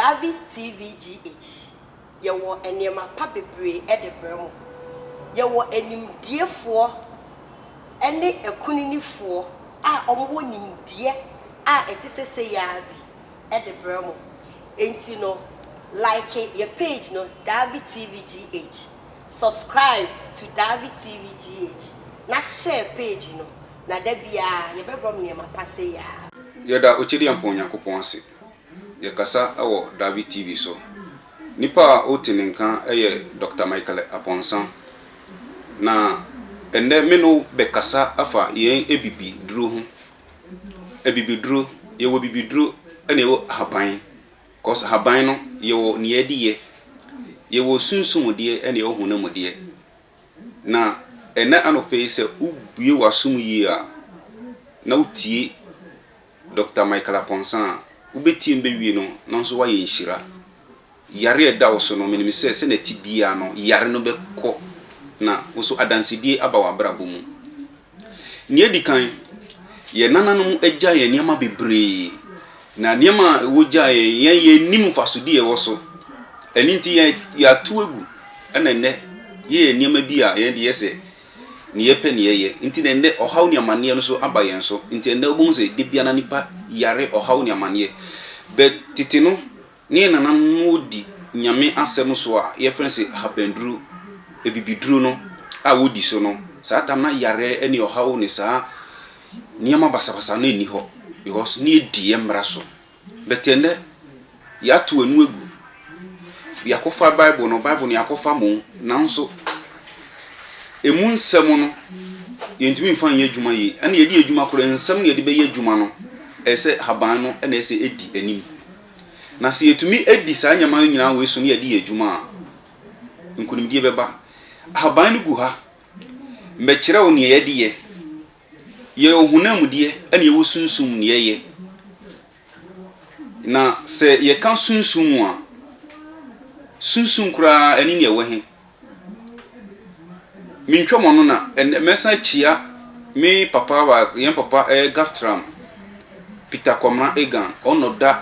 Davi TVGH, Yɛwɔ nneɛma pa bebree de brɛ mo. Yɛwɔ animdiefoɔ ne akuninifoɔ a wɔwɔ nimdeɛ a ɛte sɛ sei ara bi de brɛ mo. Enti no, like yɛn page no Davi TVGH, subscribe to Davi TVGH, na share page no, na da biara yɛbɛbrɛ mo nneɛma pa sei ara. Yɛda Okyidempɔn Nyankopɔn ase Yɛkasa wɔ Davi TV so. Nipa a ɔreti ne nka yɛ Dɔkta Michael Abɔnsa. Na ɛnnɛ me ne wo bɛkasa afa yɛn abibiduro ho. Abibiduro, yɛwɔ abibiduro na yɛwɔ ahaban. Cause ahaban no yɛwɔ nea yɛde yɛ. Yɛwɔ sunsum deɛ na yɛwɔ honam deɛ. Na ɛnnɛ anɔpa yi sɛ wobue w'asom yie a na wotie Dɔkta Michael Aponsan a wobɛtiam bɛwie no nanso woayɛ nhyira. Yare a ɛda wo so no, menim sɛ sɛdeɛ ɛte biara no, yare no bɛkɔ na wo nso adansedie aba w'abrabɔ mu. Deɛ ɛdi kan, yɛn nananom agya yɛn nneɛma bebree, na nneɛma a wɔgyaa yɛn, yɛn yɛnnim mfasodeɛ a ɛwɔ so. Ɛno nti yɛatu agu, ɛna nnɛ yɛyɛ nneɛma bi a yɛn deɛ yɛ sɛ Nea yɛpɛ na yɛyɛ nti na ɛnnɛ ɔhaw ne amanneɛ no nso aba yɛn so. Nti ɛnnɛ wobɛhu sɛ da biara na nnipa yare ɔhaw ne amanneɛ. But tete no, ne yɛn nananom no wɔdi Nyame asɛm so a yɛfrɛ no sɛ ahabanduru, abibiduru no a wɔdi so no, saa tam na yareɛ ne ɔhaw ne saa nneɛma basabasa no nni hɔ because ne yɛdi yɛn mmara so. But ɛnnɛ, yɛato anu agu. Yɛakɔfa Bible no, Bible no yɛakɔfa mmom, nanso emu nsɛm no, yɛntumi mfa nyɛ adwuma yie. Ɛnna yɛde yɛ adwuma koraa, nsɛm no yɛde bɛyɛ adwuma no, ɛyɛ sɛ haban no na ɛsɛ ɛdi anim. Na sɛ yɛtumi di saa nneɛma no nyinaa wei so na yɛde yɛ adwuma a, nkonimdie bɛba. Haban no gu ha. Mɛkyerɛ wo nea yɛde yɛ. Yɛwɔ honam deɛ ɛna yɛwɔ sunsum deɛ yɛ. Na sɛ yɛka sunsum a, sunsum koraa ɛne nea ɛwɔ he? Mentwa mo ano na ɛnɛ mɛsan akyia me papa baako, yɛn papa ɛyɛ Gaftram Peter Kwamena Egan, ɔna ɔda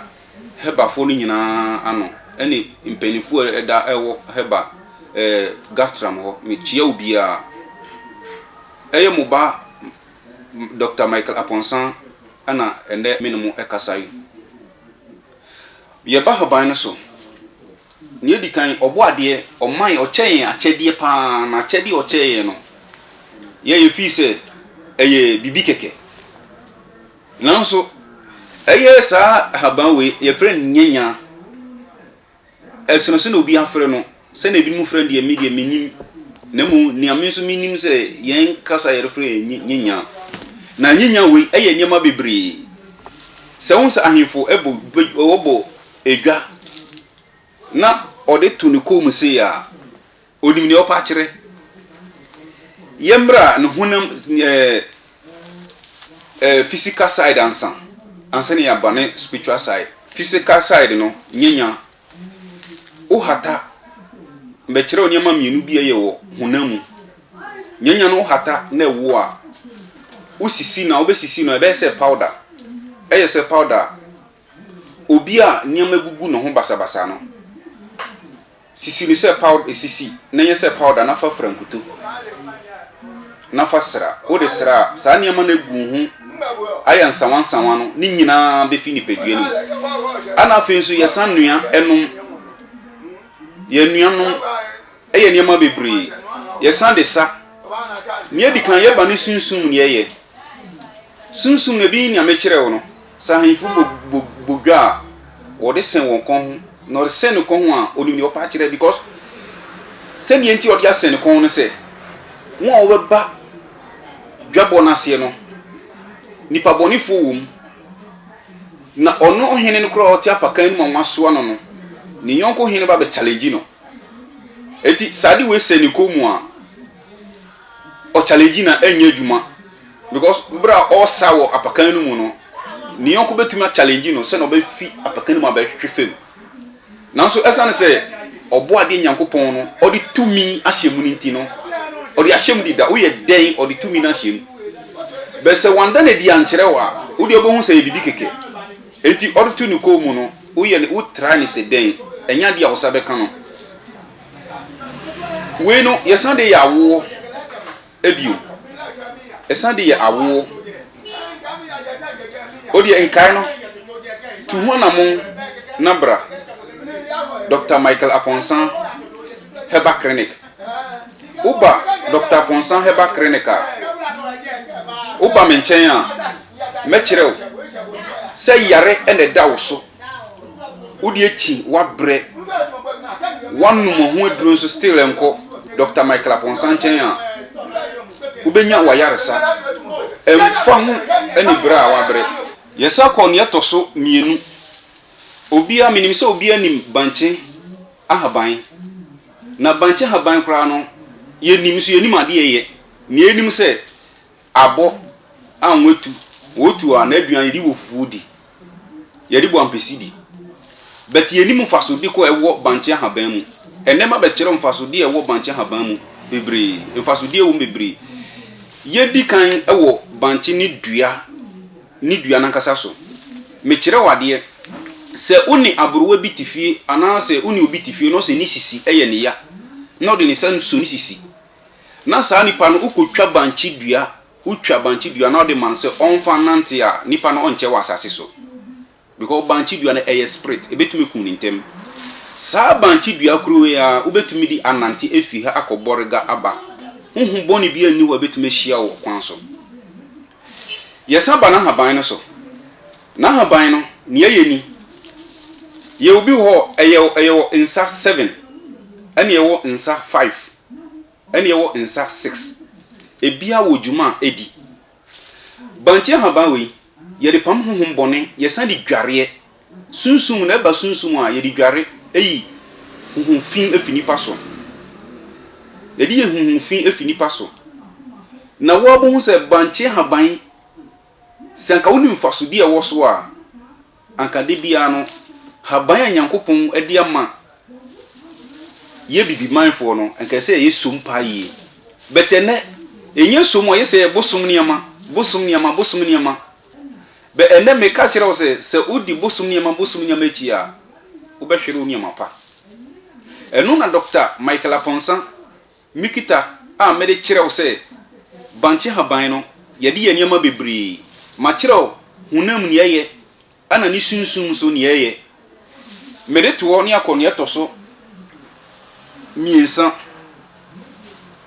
Hebafoɔ no nyinaa ano ɛne mpanimfoɔ a ɛda ɛwɔ Heba ɛɛ Gaftram hɔ. Mekyia obiara. Ɛyɛ mo ba Doctor Michael Aponsan na ɛnnɛ me ne mo ɛkasa yi. Yɛba haban no so, nea edi kan, ɔbɔadeɛ, ɔma yɛn, ɔkyɛ yɛn akyɛdeɛ paa, na akyɛdeɛ a ɔkyɛɛ yɛn no, yɛn yɛ fii sɛ ɛyɛ biribi kɛkɛ. Nanso, ɛyɛ saa haban wei, yɛfrɛ no nyanyaa. Ɛsono sɛnea obi afrɛ no, sɛnea ebinom frɛ no deɛ, me deɛ, mennim, na mmom nea me nso menim sɛ yɛn kasa a yɛrefrɛ yɛ nye, nyenya. Na nyenya wei yɛ nneɛma bebree. Sɛ wohu sɛ ahemfo bɔ, wɔbɔ dwa na ɔde to ne kɔn mu sei a, Onim nea ɔpɛ akyerɛ. Yɛmmra ne honam ɛɛ ɛɛ physical side ansa ansa na yɛaba ne spiritual side. Physical side no nyɛ nya. Wohata. Mɛkyerɛ wo nneɛma mmienu bi a ɛyɛ wɔ honam mu. Nya nya no wohata na ɛwo a wosisi na wobɛsisi no ɛbɛyɛ sɛ powder. Ɛyɛ sɛ powder a obi a nneɛma gugu ne ho basabasa no. Sisi no sɛ pawd sisi na nyɛ sɛ pawda na fa fura nkuto na fa sra. Wode sra a, saa nneɛma no agu wo ho ayɛ nsawansawa no ne nyinaa bɛfi nipadua no mu. Ana afei nso yɛsan nua nom, yɛn nua nom yɛ nneɛma bebree. Yɛsan de sa. Nea ɛdi kan, yɛba ne sunsum ne yɛyɛ. Sunsum na ebeyi nea mekyerɛɛ wo no. Sɛ ahemfo bɔ bɔ bɔ dwa a, wɔde sɛn wɔn kɔn ho, na wɔde sɛn ne kɔn ho a, onim nea ɔpɛ akyerɛ, because sɛnea enti a ɔde asɛn ne kɔn ho ne sɛ, wɔn a wɔbɛba dwabɔ no aseɛ no, nnipa bɔnefoɔ wɔ mu, na ɔno ɔhene no koraa a ɔte apakan no mu a wɔasoa no no, ne yɔnko hene ba bɛchallenge no. Enti sɛ ade wei sɛn ne kɔn mu a, ɔkyalɛgyi na ɛnyɛ adwuma because berɛ a ɔresa wɔ apakan no mu no ne yɔnko bɛtumi akyalɛgyi no sɛna ɔbɛfi apakan no mu abɛhwehwe fam nanso ɛsiane sɛ ɔbɔ adeɛ nyankopɔn no ɔde tumi ahyɛ mu no nti no ɔde ahyɛ mu deda woyɛ dɛn ɔde tumi no ahyɛ mu bɛ sɛ wanda no adi ankyerɛ wo a wodeɛ wobɛhu sɛ yɛ biribi kɛkɛ enti ɔde to ne kɔn mu no woyɛ ne wotra ne sɛ dɛn ɛnyɛ adeɛ a wo sa bɛka no Wei no, yɛsan de yɛ awoɔ bio. Yɛsan de yɛ awoɔ. O deɛ nkae no, tu ho anamon na bra Doctor Michael Aponsan Herbal Clinic. Woba Doctor Aponsan Herbal Clinic a, woba me nkyɛn a, mɛkyerɛ wo sɛ yare na ɛda wo so. wode akyi wabrɛ wanom ho aduro nso still nkɔ dr michael aponsa nkyɛn a wobɛnya wayaresa ɛmfa ho ne berɛ a wabrɛ yɛsa kɔ ne ɛtɔ so mmienu obia menim sɛ obia nim bankye ahaban na bankye ahaban koraa no yɛnim nso yɛnim adeɛ yɛ na yɛnim sɛ Abɔ a wɔatu, wɔtu a n'aduan yɛde wɔ fufuo di, yɛde bɔ ampesi di. But yɛnim mfasodeɛ kɔ a ɛwɔ bankye ahaban mu. Ɛnnɛ mabɛkyerɛ wo mfasodeɛ a ɛwɔ bankye ahaban mu bebree. Mfasodeɛ a ɛwɔ mu bebree. Yɛdi kan wɔ bankye ne dua ne dua no ankasa so. Mekyerɛ wo adeɛ, sɛ wo ne aborowa bi te fie anaasɛ wo ne obi te fie na ɔsɛ ne sisi yɛ ne ya na ɔde ne nsa sɔ ne sisi Na saa nipa no wokɔtwa bankye dua, wotwa bankye dua na wode ma no sɛ ɔmfa nnante a, nipa no ɔnkyɛ wɔ asase so. Because bankye dua no ɛyɛ spirit, ɛbɛtumi akum no ntɛm. Saa bankye dua koro wei ara, wobɛtumi de anante afiri ha akɔ Bɔrega aba. Honhom bɔne biara nni hɔ a ɛbɛtumi ahyia wo wɔ kwan so. Yɛsan ba n'ahaban no so. N'ahaban no, nea ɛyɛ ni, yɛwɔ bi wɔ hɔ, ɛyɛ, ɛyɛ wɔ nsa seven, ɛna ɛwɔ nsa five. ɛne ɛwɔ nsa six. Ebia wɔ dwuma a edi. Bankye ahaban wei, yɛde pam honhom bɔne, yɛsan de dwareɛ. Sunsum na ɛba sunsum a, yɛde dware yi honhom fi fi nipa so. Yɛde yɛ honhom fi fi nipa so. Na woabɛhu sɛ bankye ahaban, sɛ anka wonim mfasodeɛ a ɛwɔ so a, Anka da biara no, haban a Nyankopɔn de ama yɛ Bibimanfoɔ no, anka ɛsɛ sɛ ɛyɛ som paa yie. But ɛnnɛ, ɛnyɛ som, ayɛ sɛ ɛyɛ bosom nneɛma, bosom nneɛma, bosom nneɛma. But ɛnnɛ, meka kyerɛ wo sɛ, sɛ wodi bosom nneɛma, bosom nneɛma akyi a, wobɛhwere wo nneɛma pa. Ɛno na Dɔkta Michael Aponsa, Mikita a mede kyerɛ wo sɛ bankye haban no, yɛde yɛ nneɛma bebree. Makyerɛ wo honam nea ɛyɛ ɛna ne sunsum nso nea ɛyɛ. Mede to hɔ ne akɔ nea ɛtɔ so mmiɛnsa.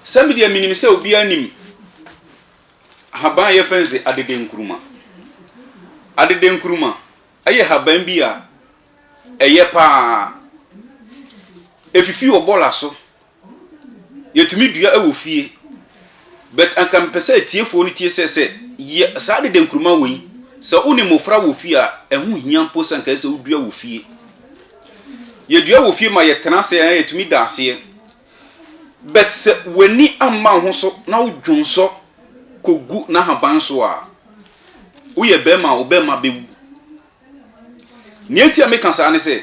Sɛ me deɛ menim sɛ obiara nim haban a yɛfrɛ no sɛ adedenkuruma. Adedenkuruma yɛ haban bi a ɛyɛ paa. Efifi wɔ bɔla so Yɛtumi dua wɔ fie, but anka mepɛ sɛ atiefoɔ no tie sɛ, sɛ yɛ saa dede nkruma wei, sɛ wo ne mmofra wɔ fie a, ɛho hia mpo sɛ anka ɛsɛ sɛ wodua wɔ fie. Yɛdua wɔ fie ma yɛtena ase a, yɛtumi da aseɛ. But sɛ w'ani amma wo ho so na wo dwonsɔ kɔgu n'ahaban so a, woyɛ barima a, wo barima bɛwu. Nea nti a meka saa ne sɛ,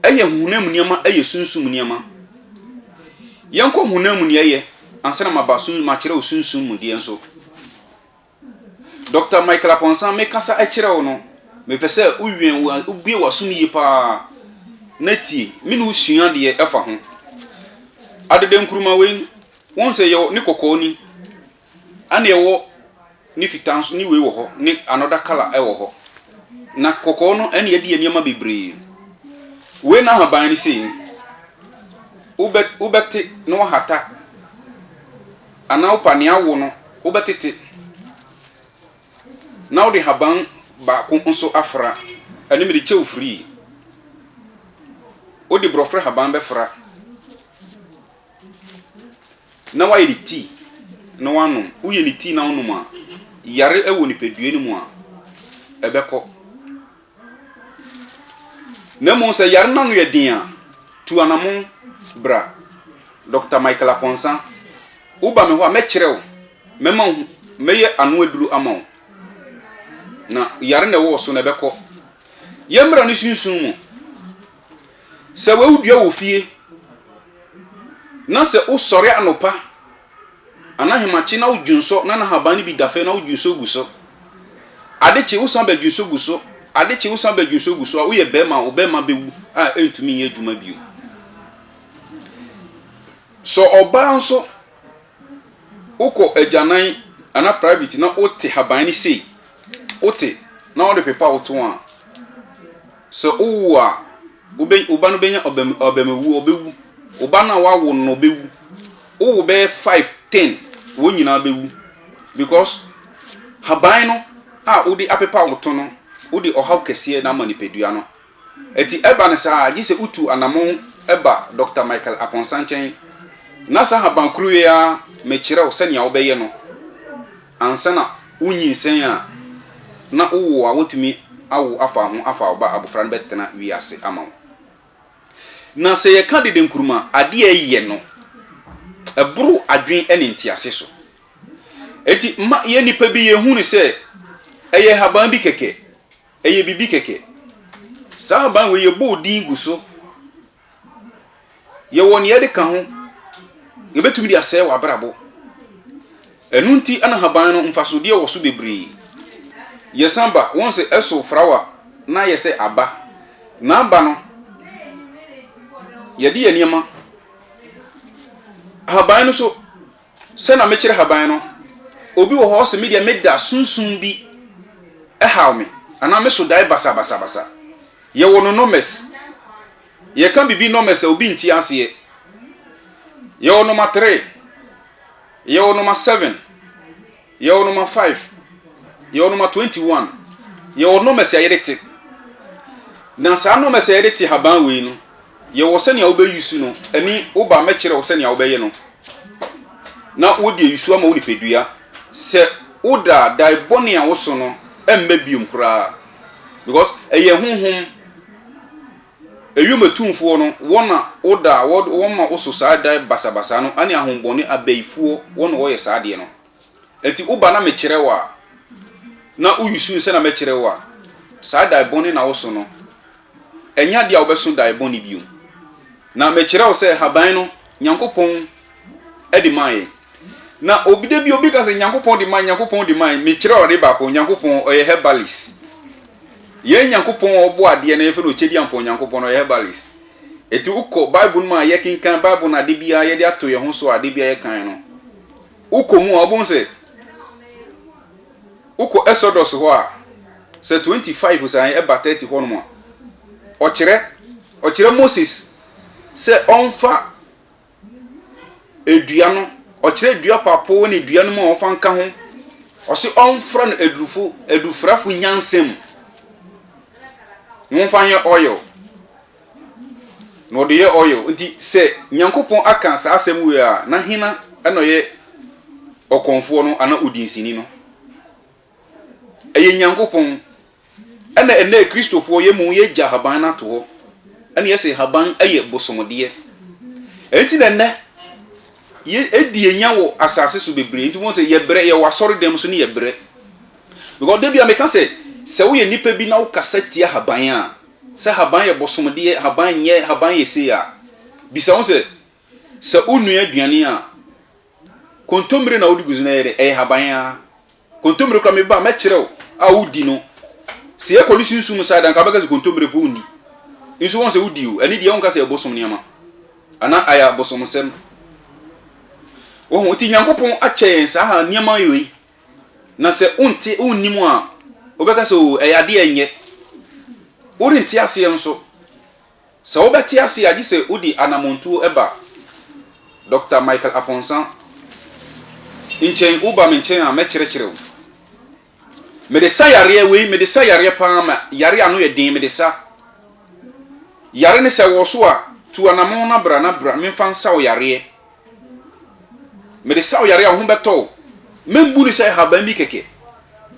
Ɛyɛ honam mu nneɛma, ɛyɛ sunsum mu nneɛma. Yɛnkɔ honam mu nea ɛyɛ ansa na maba sun makyerɛ wo sunsum mu deɛ nso. Dɔkta Michael Aponsan, mekasa kyerɛ wo no, mepɛ sɛ wowɛn wobue w'aso no yie paa na tie. Me ne wo sua deɛ ɛfa ho. Adada nkuruma wei, wohu sɛ yɛwɔ ne kɔkɔɔ ni, Ɛna ɛwɔ ne fitaa nso ne wei wɔ hɔ ne another colour ɛwɔ hɔ na kɔkɔɔ no ɛna ɛde yɛ nneɛma bebree wei n'ahaban no sei no wobɛ wobɛte na wahata anaa wopa nea awo no wobɛtete na wode haban baako nso afra ɛne mede kyɛw free wode borɔfrɛ haban bɛfra. na woayɛ ne tii na woanom. Woyɛ ne tii na wonom a, yare wɔ nipadua no mu a, ɛbɛkɔ. Na mmom sɛ yare no ano yɛ den a, tu anammɔn bra. Dɔkta Michael Akɔnsa, woba me hɔ a, mɛkyerɛ wo, mɛma wo, mɛyɛ ano aduru ama wo. Na yare na ɛwɔ wo so na ɛbɛkɔ. Yɛmmra ne sunsum mu. Sɛ wodua wɔ fie na sɛ wosɔre anɔpa anaa ahemakye na wodwo nsɔ na n'ahaban no bi da fɛ na wodwo nsɔ gu so. Ade kye wosan bɛdwo nsɔ gu so, ade kye wosan bɛdwo nsɔ gu so a, woyɛ bɛrima a wo bɛrima bɛwu a ɛntumi nyɛ adwuma bio. Sɛ ɔbaa nso, Wokɔ agyanan anaa private na wote haban no sei, wote na wode pepa wo to a, sɛ wowo a, wo ba no bɛnya abamawuo, ɔbɛwu. Wo ba no a woawo no no, ɔbɛwu. Wowo bɛyɛ five, ten, wɔn nyinaa bɛwu because haban no a wode apepa wo to no, wode ɔhaw kɛseɛ na ama nipadua no. Enti ɛba no saa a, gye sɛ wotu anammɔn ba Dɔkta Michael Akonsah nkyɛn, na saa haban koro yi ara mekyerɛ wo sɛnea wobɛyɛ no ansa na wunyinsɛn a, na wowo a wɔatumi awo afa ho afa wo ba a, abofra no bɛtena wiase ama wo. Na sɛ yɛka dede nkurum a, ade a ɛyɛ no, ɛboro adwene ne ntease so. Enti ma yɛn nnipa bi yɛhu no sɛ ɛyɛ haban bi kɛkɛ. Ɛyɛ biribi kɛkɛ. Saa ahaban wei yɛbɔɔ din gu so. Yɛwɔ nea yɛde ka ho. Yɛbɛtumi de asɛe w'abrabɔ. Ɛno nti na ahaban no mfasodeɛ wɔ so bebree. Yɛsan ba, wɔn sɛ ɛso frawa na ayɛ sɛ aba. N'aba no, yɛde yɛ nneɛma. Ahaban no so. Sɛ na mekyere haban no, obi wɔ hɔ ɔse me deɛ me da sunsum bi haw me anaa me so dae basabasabasa. Yɛwɔ no nɔmɛs. Yɛka bibi nɔmɛs a obi nte aseɛ. Yɛwɔ nɔma three. Yɛwɔ nɔma seven. Yɛwɔ nɔma five, yɛwɔ nɔma twenty one, yɛwɔ nɔmas a yɛde te. Na saa nɔmas a yɛde te haban wei no, yɛwɔ sɛnea wobɛyusu no, ɛne wo ba mɛkyerɛ wo sɛnea wobɛyɛ no na wode ayusu ama wo nipadua. Sɛ woda a, dae bɔne a woso no mma biom koraa because ɛyɛ honhom Ewiem atumfoɔ no, wɔn na woda a wɔde wɔn ma wo so saa dae basabasa no ne ahombɔne abayifoɔ, wɔn na wɔyɛ saa adeɛ no. Enti woba na mekyerɛ wo a, na woyusu sɛ na mɛkyerɛ wo a, saa dae bɔne na woso no, ɛnyɛ adeɛ a wobɛso dae bɔne bio. Na mekyerɛ wo sɛ haban no, Nyankopɔn, de maa yɛn. Na obi da bi obi ka sɛ Nyankopɔn de maa Nyankopɔn de maa mekyerɛ ɔde baako Nyankopɔn ɔyɛ herbalist. Yɛn Nyankopɔn a ɔbɔ adeɛ no yɛfrɛ no Okyediampɔn Nyankopɔn ɔyɛ herbalist. Eti wokɔ Bible no mu a yɛkenkan Bible no ade biara yɛde ato yɛn ho so a ade biara yɛkan no. Wokɔ mu a wobɛhu sɛ wokɔ Exodus hɔ a sɛ 25 saa ɛba 30 hɔ nom a ɔkyerɛ ɔkyerɛ Moses sɛ ɔmfa dua no, ɔkyerɛ dua papo ne dua no mu a wɔfa nka ho. Ɔse ɔmfra no adurufo, adufrafo nyansa mu. Wɔmfa nyɛ oil. Na ɔde yɛ oil. Nti sɛ Nyankopɔn aka saa asɛm wei a, na hena na ɔyɛ ɔkɔmfoɔ no anaa odinsini no? Ɛyɛ Nyankopɔn. Ɛna ɛnnɛ Kristofoɔ yɛ mmom yɛgya haban no ato hɔ, ɛna yɛse haban yɛ bosomdeɛ. Ɛnti na ɛnnɛ yɛ ɛdi ɛnya wɔ asase so bebree, nti wobɛhu sɛ yɛbrɛ, yɛwɔ asɔredɛm so ne yɛbrɛ. Because da bi a meka sɛ, sɛ woyɛ nnipa bi na wokasa tia haban a, sɛ haban yɛ bosomdeɛ, haban nyɛ, haban yɛ sei a, bisa wo ho sɛ, sɛ wonua aduane a, Kontommire na wode gu so na ɛyɛ dɛ? Ɛyɛ haban ara. Kontommire koraa, meba a, mɛkyerɛ wo a wodi no. Sɛ yɛkɔ ne sunsum side a, anka wobɛka sɛ kontommire mpo wonni. Nso wɔn sɛ wodi o. Ɛno deɛ wonka sɛ ɛbosom nneɛma anaa ayɛ abosomsɛm. Wohu? Nti Nyankopɔn akyɛ yɛn saa nneɛma wei. Na sɛ wonte, wonnim a, wobɛka sɛ o, ɛyɛ adeɛ a ɛnyɛ. Worente aseɛ nso. Sɛ wobɛte ase a, gye sɛ wode anammɔntuo ba Dɔkta Michael Aponsan nkyɛn. Woba me nkyɛn a, mɛkyerɛkyerɛ wo. Mede sa yareɛ, wei mede sa yareɛ pa ara ma yareɛ a ano yɛ den, mede sa yare no. Sɛ ɛwɔ so a, tu anammɔn na bra na bra memfa nsa wo yareɛ. Mede saa ɔyare a wo ho bɛtɔ wo. Membu no sɛ nhaban bi kɛkɛ.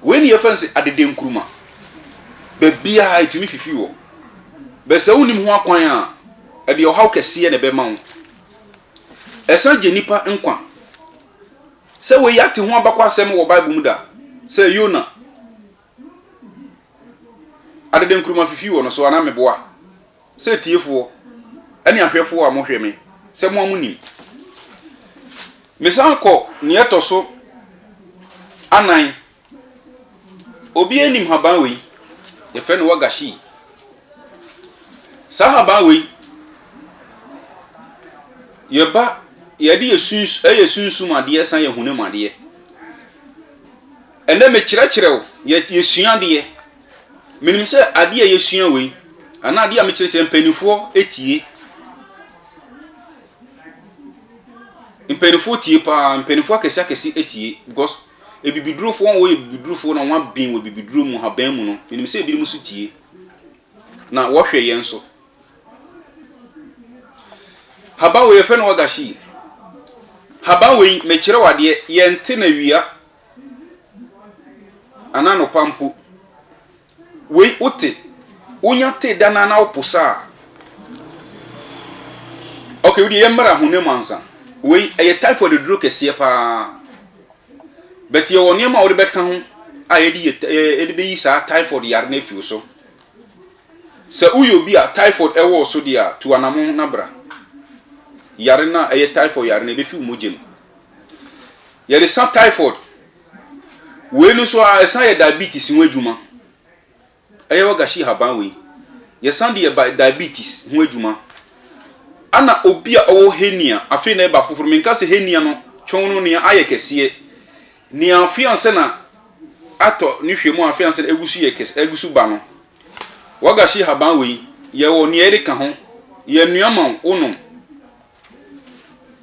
Wei na yɛfrɛ no sɛ adede nkuruma. Baabiara ɛtumi fifi wɔ. Bɛ sɛ wonim ho akwan a, ɛde ɔhaw kɛseɛ na ɛbɛma wo. Ɛsan gye nnipa nkwa. Sɛ wei yɛate ho abakɔasɛm wɔ Bible mu da sɛ Yona adede nkuruma fifi wɔ no so anaa meboa? Sɛ atiefoɔ ne ahwɛfoɔ a mohwɛ me sɛ mo a monim. Mesan kɔ nea ɛtɔ so anan. Obiara nim haban wei, yɛfrɛ no wagashi. Saa haban wei, yɛba yɛde yɛ suns ɛyɛ sunsum adeɛ san yɛ honam adeɛ. Ɛnɛ mekyerɛkyerɛ wo, yɛsua adeɛ. Menim sɛ adeɛ a yɛsua wei, anaa adeɛ a mekyerɛkyerɛ mpanimfoɔ tie. Mpanimfoɔ tie paa, mpanimfoɔ akɛse akɛse tie because abibidurofoɔ a wɔyɛ abibidurofoɔ na wɔaben wɔ abibiduro mu, haban mu no, menim sɛ ebinom nso tie. Na wɔhwɛ yɛn nso. Haban wei yɛfrɛ no wagashi. Haban wei mekyerɛ wo adeɛ, yɛnte na awia Anaa anɔpa mpo. Wei wote, wonya tee da no ara na wopo saa a, okay, wo deɛ yɛmmara honam ansa. Wei, ɛyɛ typhoid aduro kɛseɛ paa. But yɛwɔ nneɛma a wode bɛka ho a yɛde yɛ yɛde bɛyi saa typhoid yare no afi wo so. Sɛ woyɛ obi a typhoid ɛwɔ so deɛ a, tu anamon na bra. Yare no a ɛyɛ typhoid yare no ɛbɛfi wo mogya mu. Yɛde sa typhoid. Wei no nso a ɛsan yɛ diabetes ho adwuma. Ɛyɛ ɔgashi haban wei. Yɛsan de yɛ diabetes ho adwuma. Ana obi a ɔwɔ hernia, afei na ɛba foforɔ. Menka sɛ hernia no twɔn no nea ayɛ kɛseɛ. Nea afei ansa na atɔ ne hwɛ mu a afei ansa na agu so yɛ kɛse, agu so ba no. Wagashi haban wei, yɛwɔ nea yɛde ka ho. Yɛnoa ma wo, wonom.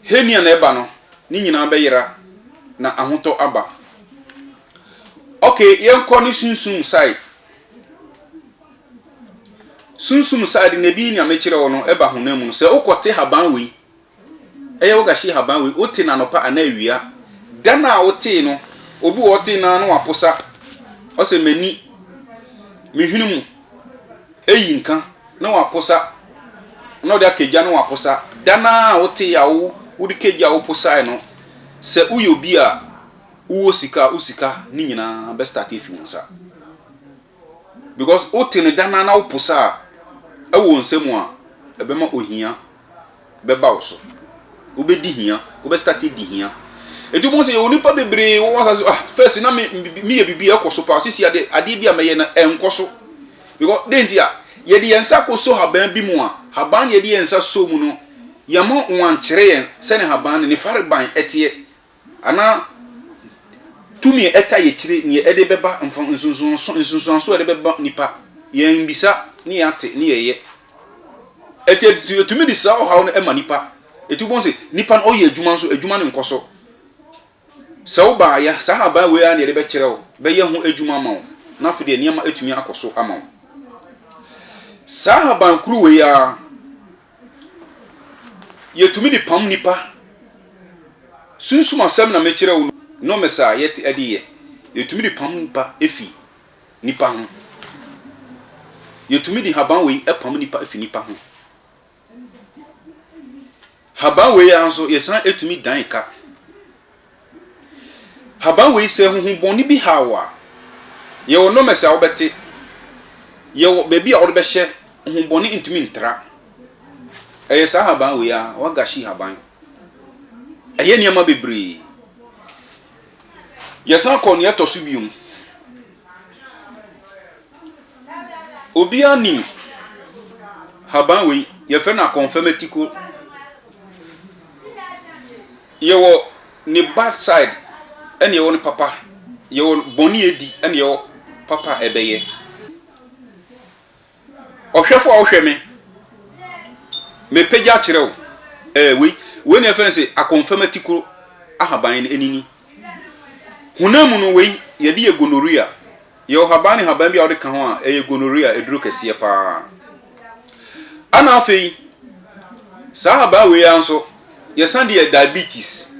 Heni a na ɛba no, ne nyinaa bɛyera, na ahotɔ aba. Okay, yɛnkɔ ne sunsum side. Sunsum side na ebi nea mekyerɛ wo no ɛba honam mu no. Sɛ wokɔte haban wei, ɛyɛ wogahye haban wei, wote no anɔpa anaa awia, da no a wotee no, obi wɔ ɔtee no ara na waposa, ɔsɛ m'ani, mehwene mu, Eyi nka, na wɔaposa, na wɔde akagya na wɔaposa. Da no ara a wotee a wode kagya a woposae no, sɛ woyɛ obi a wowɔ sika a, wo sika no nyinaa bɛstarte afi wo nsa. Because wotee no da no ara na woposa a, ɛwɔ wo nsam a, ɛbɛma ohia bɛba wo so. Wobɛdi hia, wobɛ start adi hia. Ɛti wobɛhu sɛ yɛwɔ nipa bebree wɔwɔ asase ah first na me meyɛ biribi ɛkɔ so paa sisi adeɛ adeɛ bi a mɛyɛ na ɛnkɔ so because de nti a yɛde yɛn nsa kɔ so haban bi mu a haban yɛde yɛn nsa so mu no yɛma wɔn ankyerɛ yɛn sɛne haban no ne fareban ɛteɛ Anaa tumi a ɛtaa yɛkyire neɛ ɛde bɛba mfa nsunsuanso nsunsuanso a ɛde bɛba nipa yɛn bisa ne yɛn ate ne yɛn yɛ ɛti ɛtumi de saa ɔhaw no ɛma nipa ɛti wobɛhu sɛ nipa no ɔyɛ adwuma nso adwuma no nkɔ so sɛ wo baa yɛ saa haban wei a na yɛde bɛkyerɛ wo bɛyɛ ho adwuma ama wo na afei deɛ nneɛma ɛtumi akɔ so ama wo saa haban kuru wei a Yɛtumi de pam nnipa. Sunsum asɛm na mekyerɛ wo no, nomes a yɛte adiyɛ. Yɛtumi de pam nnipa fi nnipa ho. Yɛtumi de haban wei pam nnipa fi nnipa ho. Haban wei ara nso, yɛsan tumi dan ka. Haban wei sɛ huhu bɔne bi haw wo a, yɛwɔ nɔmɛs a wobɛte, yɛwɔ baabi a wode bɛhyɛ, huhu bɔne ntumi ntra. Ɛyɛ saa haban wei ara, wagashi haban. Ɛyɛ nneɛma bebree. Yɛsan kɔ nea ɛtɔ so biom. Obiara nim haban wei, yɛfrɛ no akɔnfɛmɛtiko. Yɛwɔ ne bad side ɛna yɛwɔ ne papa, yɛwɔ bɔne a edi ɛna yɛwɔ papa a ɛbɛyɛ. Ɔhwɛfo a wohwɛ me, mepagya kyerɛ wo ɛɛ wei, wei na yɛfrɛ no sɛ akɔnfam atikoro ahaban anini. Honam mu no wei yɛde yɛ gonorrhea. Yɛ ɔhaban ne haban bi a wode ka ho a ɛyɛ gonorrhea aduro kɛseɛ pa ara. Ɛna afei, saa haban wei ara nso, yɛsan de yɛ diabetes.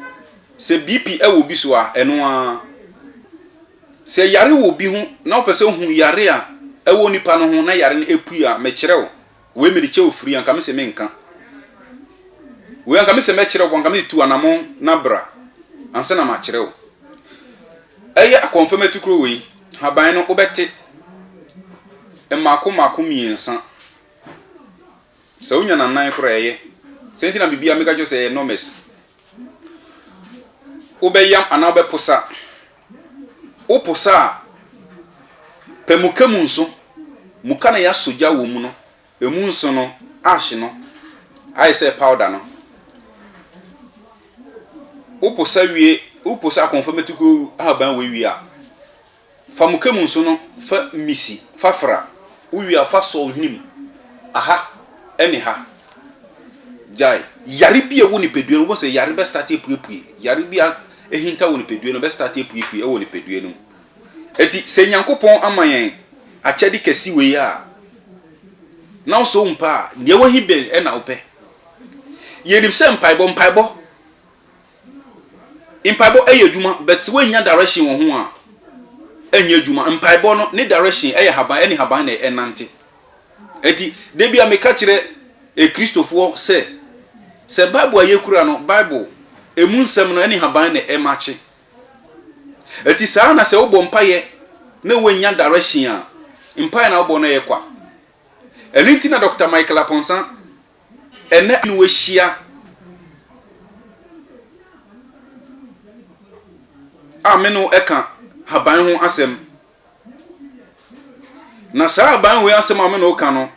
Sɛ BP wɔ obi so a, ɛno ara. Sɛ yare wɔ obi ho na wopɛ sɛ wohu yare a ɛwɔ nipa no ho na yare no apue a, mekyerɛ wo Wei mede kyɛ ofiri anka me se me nka Wei anka me se mɛ kyerɛ wo anka me se tu anamon na bra ansa na ma kyerɛ wo Ɛyɛ akɔnfam atukuro wei haban no wo bɛ te Mmaako mmaako mmiensa Sɛ wo nya na nan kora ɛyɛ Sɛ nti na bibia me ka kyerɛ wo sɛ ɛyɛ nɔmɛs Wo bɛ yam anaa wo bɛ posa wopo sa a, pɛ muka mu nso. Muka no yɛasɔ gya wɔ mu no, ɛmu nso no, ash no, ayɛ sɛ powder no. Wopo sa wie, wopo sa kɔnfamatukuo ahaban wei wie a, fa muka mu nso no fa misi, fa fra. Wowie a, fa sɔ wo hwene mu, aha ne ha. Gyae. Yare bi a ɛwɔ nipadua no, wobɛhu sɛ yare bɛstate apuepue. Yare bi a ahintaw wɔ nipadua no mu, bɛstarte apuepue wɔ nipadua no mu. Enti sɛ Nyankopɔn ama yɛn akyɛde kɛse wei a, na wo sɛ wompɛ a, nea ɛwɔ he bɛn na wopɛ? Yɛnim sɛ mpaebɔ, mpaebɔ, mpaebɔ ɛyɛ adwuma, but sɛ woannya direction wɔ ho a, ɛnyɛ adwuma. Mpaebɔ no, ne direction ɛyɛ haban, ɛne haban na ɛnante. Enti, da biara meka kyerɛ Kristofoɔ sɛ, sɛ Bible a yɛkura no, Bible, ɛmu nsɛm no ne haban na ɛmakye. Enti saa ara na sɛ wobɔ mpaeɛ na woannya direction a, mpaeɛ na wobɔ no ɛyɛ kwa. Ɛno nti na Dɔkta Michael Aponsan ɛnnɛ ne wahyia a me ne wo ɛka haban ho asɛm na saa aban wei asɛm a me na ɔka no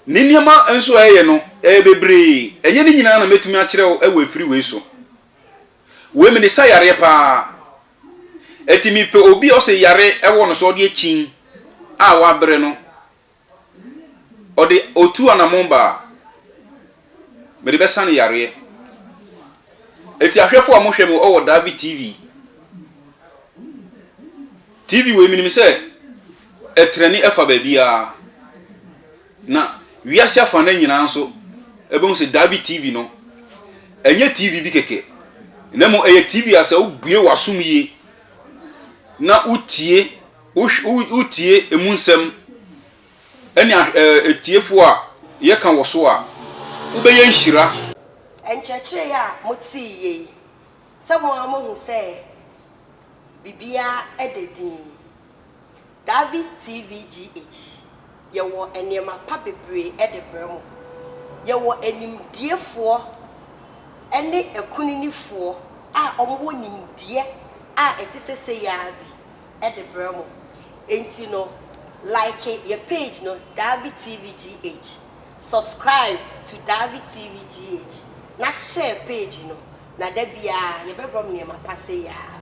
ne nneɛma nso a ɛyɛ no ɛyɛ bebree ɛnyɛ ne nyinaa na mɛtumi akyerɛ wo ɛwɔ afiri wei so wei mene sa yareɛ paa ɛti mepɛ obi ɔsɛ yare ɛwɔ no so ɔde akyin a wabrɛ no Ɔde otu anammɔn ba a, mede bɛsa no yareɛ. Eti ahwɛfo a mohwɛ me wɔ David TV. TV wei menim sɛ ɛtrɛne ɛfa baabiara. Na wiase afa no nyinaa nso ɛbɛhu sɛ David TV no ɛnyɛ TV bi kɛkɛ. Na mmom ɛyɛ TV a sɛ wobue w'asom yie na wotie Wotie emu nsɛm ne atiefo a yɛka wɔ so a, wobɛyɛ nhyira. Nkyerɛkyerɛ a moteeɛ yi, sɛ mo ara moahu sɛ biribiara da dinn? Davi TVGH, yɛwɔ nneɛma pa bebree de brɛ mo. Yɛwɔ animdiefoɔ ne akuninifoɔ a wɔwɔ nimdeɛ a ɛte sɛ sei ara bi. de brɛ mo enti no like yɛ page no Davi TV GH subscribe to Davi TV GH na share page no na da biara yɛbɛbrɛ mo nneɛma pa sei ara.